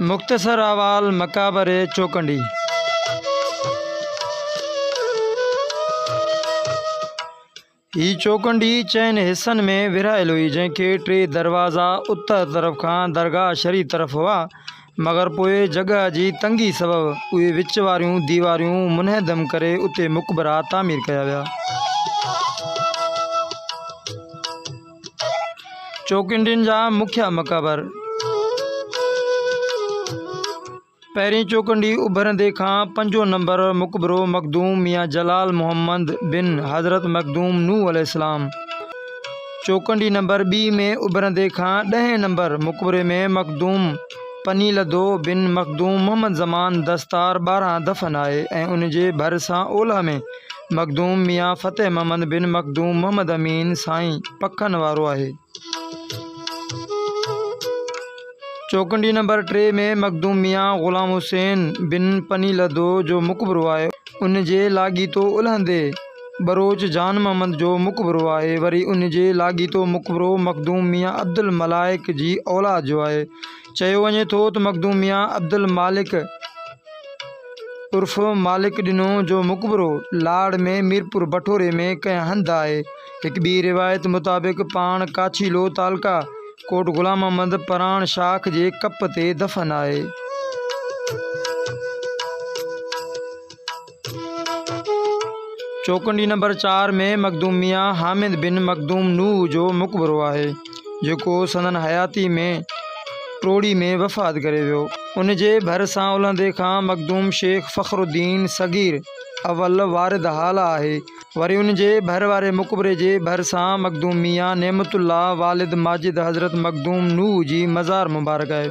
مختصر احوال مقابري چوڪنڊي هي چوڪنڊي چئن حصن ۾ ورهايل هئي جنهن کي ٽي دروازا اتر طرف کان درگاهه شريف طرف هئا مگر پوء جڳهه جي تنگي سبب اهي وچ واريون ديواريون منهدم ڪري اتي مقبرا تعمير ڪيا ويا. چوڪنڊين جا مکيه مقابر، پهرين چوڪنڊي اڀرندي کان پنجون نمبر مقبرو مخدوم ميان جلال محمد بن حضرت مخدوم نوح عليه السلام، چوڪنڊي نمبر ٻي ۾ اڀرندي کان ڏهين نمبر مقبري ۾ مخدوم پني لڌو بن مخدوم محمد زمان دستار ٻارهن دفن آهي ۽ ان جي ڀر سان اولهه ۾ مخدوم ميان فتح محمد بن مخدوم محمد امين سائين پکن وارو آهي. چوڪنڊي نمبر ٽي ۾ مخدوم ميان غلام حسين بن پني لڌو جو مقبرو آهي. ان جي لاڳيتو الهندي. ٻروچ جان محمد جو مقبرو آهي، وري ان جي لاڳيتو مقبرو مخدوم ميان عبدالملائڪ جي اولاد جو آهي. چيو وڃي ٿو ته مخدوم ميان عبدالمالڪ عرف مالڪ ڏنو جو مقبرو لاڙ ۾ ميرپور بٺوري ۾ ڪنهن هنڌ آهي. هڪ ٻي روايت مطابق پاڻ ڪاڇيلو تعلقه ڪوٽ غلام محمد پراڻ شاخ جي ڪپ تي دفن آهي. چوکنڊي نمبر چار ۾ مخدوم ميان حامد بن مخدوم نوح جو مقبرو آهي، جيڪو سندن حياتي ۾ ٽوڙي ۾ وفات ڪري ويو. ان جي ڀر سان الهندي کان مخدوم شيخ فخر الدين صغير اول وارد هالا آهي. وري ان جي ڀر واري مقبري جي ڀرسان مخدوم ميان نعمت الله والد ماجد حضرت مخدوم نوح جي مزار مبارڪ آهي.